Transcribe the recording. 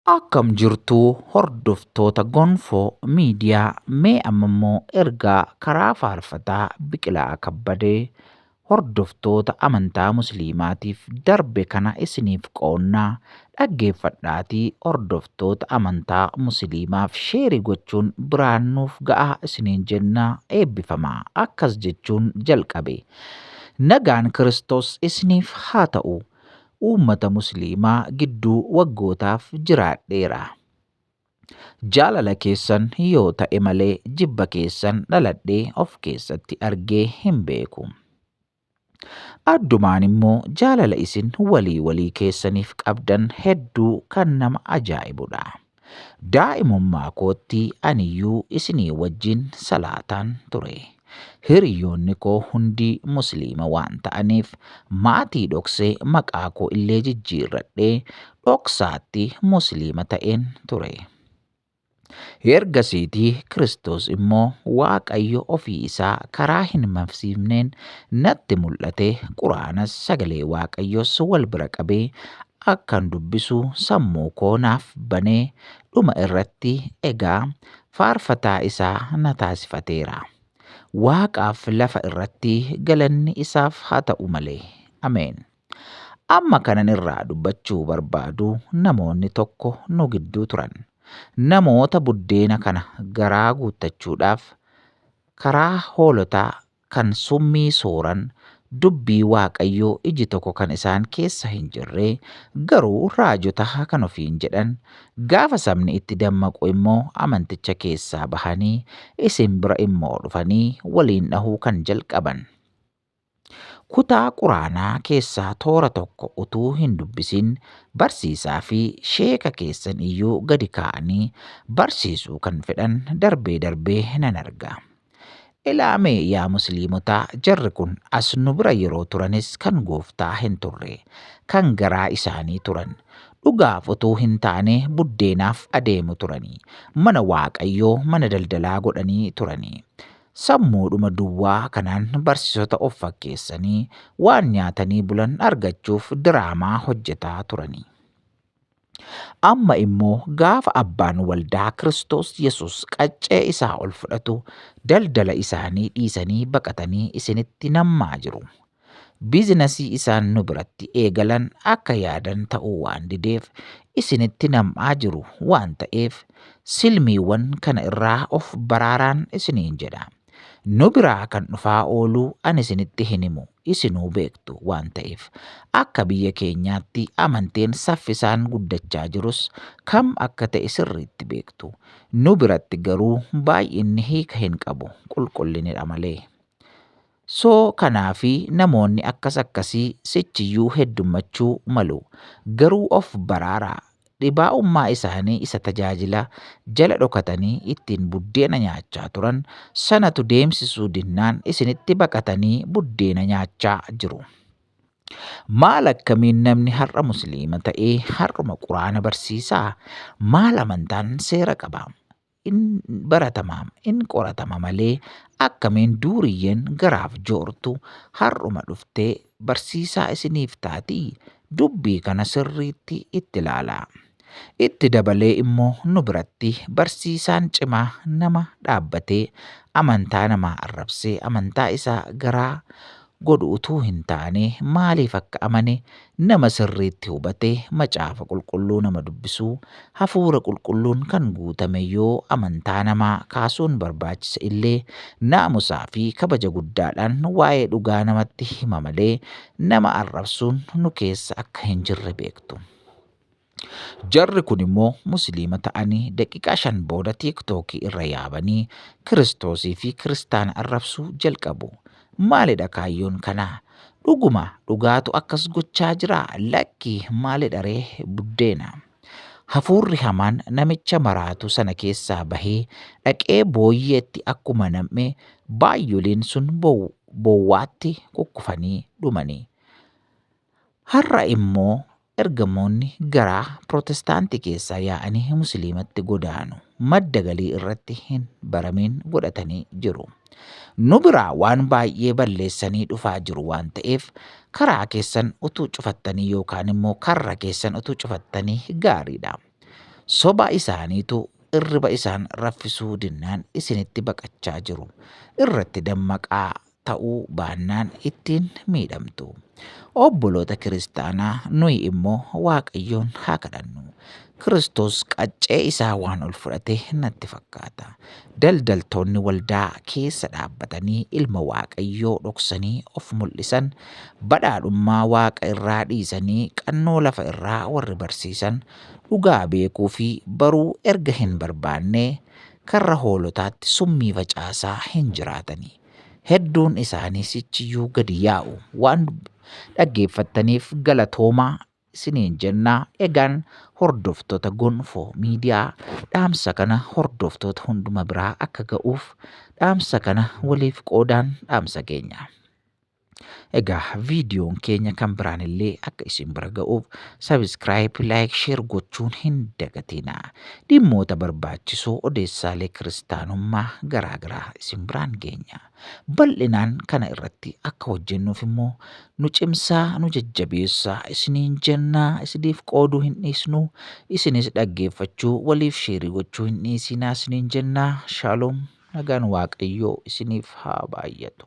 Akkam jirtu hordoftoota Gonfoo Miidiyaa mee amma immoo ergaa karaa faarfataa Biqilaa Kabbadee hordoftoota amantaa Musliimaatiif darbe kana isiniif qoonna dhaggeeffadhaatii hordoftoota amantaa Musliimaaf sheeri gochuun biraan nuuf ga'aa isiniin jenna eebbifamaa akkas jechuun jalqabe Nagaan Kiristoos isiniif haa ta'u Uummata Musliimaa gidduu waggootaaf jiraadheera. Jaalala keessan yoo ta'e malee jibba keessan dhaladhee of keessatti argee hin beeku. Addumaan immoo jaalala isin walii walii keessaniif qabdan hedduu kan nama ajaa'ibudha. Daa'imummaa kootti aniyyuu isinii wajjin salaataan ture. Hiriyoonni koo hundi Musliima waan ta'aniif maatii dhoksee maqaa koo illee jijjiirradhee dhoksaatti Musliima ta'een ture. Ergasiitii Kiristoos immoo Waaqayyo ofii isaa karaa hin mamsiifneen Natti mul'ate Qur'aanas sagalee Waaqayyoos wal bira qabee akkan dubbisu sammuu koo naaf banee dhuma irratti egaa faarfataa isaa na taasifateera. Waaqaaf lafa irratti galanni isaaf haa ta'u malee. Ameen. Amma kanan irraa dubbachuu barbaadu namoonni tokko nu gidduu turan. Namoota buddeena kana garaa guuttachuudhaaf karaa hoolotaa kan summii sooran, dubbii Waaqayyoo iji tokko kan isaan keessa hin jirre, garuu raajota kan ofiin jedhan, gaafa sabni itti dammaqu immoo amanticha keessaa bahanii isin bira immoo dhufanii waliin dhahuu kan jalqaban. Kutaa Quraanaa keessaa toora tokko utuu hin dubbisin barsiisaa fi sheeka keessan iyyuu gadi kaa'anii barsiisuu kan fedhan darbee darbee nan arga. Ilaame yaa musliimotaa jarri kun as nu bira yeroo turanis kan gooftaa hin turre kan garaa isaanii turan dhugaaf utuu hin taane buddeenaaf adeemu turani mana waaqayyoo mana daldalaa godhanii turani sammuudhuma duwwaa kanaan barsisota of fakkeessanii waan nyaatanii bulan argachuuf diraamaa hojjetaa turani. Amma immoo gaafa abbaan waldaa Kiristoos Yesuus qaccee isaa ol fudhatu daldala isaanii dhiisanii baqatanii isinitti nammaa jiru. Biizinasii isaan nu biratti eegalan akka yaadan ta'uu waan dideef isinitti nam'aa jiru waan ta'eef silmiiwwan kana irraa of baraaraan isiniin jedha. Nu biraa kan dhufaa oolu an isinitti hin himu, isinuu beektu waan ta'eef. Akka biyya keenyaatti amanteen saffisaan guddachaa jirus kam akka ta'e sirriitti beektu. Nu biratti garuu baay'inni hiika hin qabu, qulqullinidha malee. So kanaafi namoonni akkas akkasii sichiyyuu heddummachuu malu. Garuu of baraaraa! Dhibaa'ummaa isaanii isa tajaajila jala dhokatanii ittiin buddeena nyaachaa turan sanatu deemsisuu dinnaan isinitti baqatanii buddeena nyaachaa jiru. Maal akkamiin namni har'a musliima ta'ee har'uma quraana barsiisaa? Maal amantaan seera qaba? in baratama in qoratama malee akkamiin duuriyyeen garaaf joortu har'uma dhuftee barsiisaa isiniif taatii? Dubbii kana sirriitti itti ilaalaa. Itti dabalee immoo nu biratti barsiisaan cimaa nama dhaabbatee amantaa namaa arrabsee amantaa isaa garaa godhu utuu hin taane maaliif akka amane nama sirriitti hubate Macaafa Qulqulluu nama dubbisuu Hafuura Qulqulluun kan guutame yoo amantaa namaa kaasuun barbaachise illee naamusaa fi kabaja guddaadhaan waa'ee dhugaa namatti hima malee nama arrabsuun nu keessa akka hin jirre beektu. Jarri kun immoo musliima ta'anii daqiiqaa shan booda tiiktookii irra yaabanii kiristoosii fi kiristaana arrabsuu jalqabu. Maalidha kaayyoon kanaa? Dhuguma dhugaatu akkas gochaa jira lakki maalidha ree buddeena. Hafuurri hamaan namicha maraatu sana keessaa bahee dhaqee booyyeetti akkuma nam'e baay'oleen sun bowwaatti kukkufanii dhumanii. Har'a immoo ergamoonni gara Pirootestaantii keessaa yaa'anii Musliimatti godaanu. Madda galii irratti hin baramiin godhatanii jiru. Nu biraa waan baay'ee balleessanii dhufaa jiru waan ta'eef karaa keessan utuu cufattanii yookaan immoo karra keessan utuu cufattanii gaariidha. Soba isaaniitu irriba isaan raffisuu dinnaan isinitti baqachaa jiru. Irratti dammaqaa ta'uu baannaan ittiin miidhamtu. Obboloota kiristaanaa nuyi immoo Waaqayyoon haa kadhannu. Kiristoos qaccee isaa waan ol fudhate natti fakkaata. Daldaltoonni waldaa keessa dhaabbatanii ilma Waaqayyoo dhoksanii of mul'isan, badhaadhummaa Waaqa irraa dhiisanii qannoo lafa irraa warri barsiisan, dhugaa beekuu fi baruu erga hin barbaannee karra hoolotaatti summii facaasaa hin jiraatanii. Hedduun isaanii sichiyyuu gadi yaa'u. Waan dhaggeeffattaniif galatoomaa isiniin jennaa egaan hordoftoota gonfoo miidiyaa dhaamsa kana hordoftoota hunduma biraa akka ga'uuf dhaamsa kana waliif qoodaan dhaamsa keenya. Egaa viidiyoon keenya kan biraan illee akka isin bira ga'uuf sabiskiraayib, laayik, sheer gochuun hin dagatina. Dhimmoota barbaachisoo odeessaalee kiristaanummaa garaa garaa isin biraan geenya. Bal'inaan kana irratti akka hojjennuuf immoo nu cimsaa, nu jajjabeessaa isiniin jennaa isiniif qooduu hin dhiisnu. Isinis dhaggeeffachuu waliif sheerii gochuu hin dhiisinaa isiniin jennaa. Shaaloom. Nagaan waaqayyoo isiniif haa baay'atu.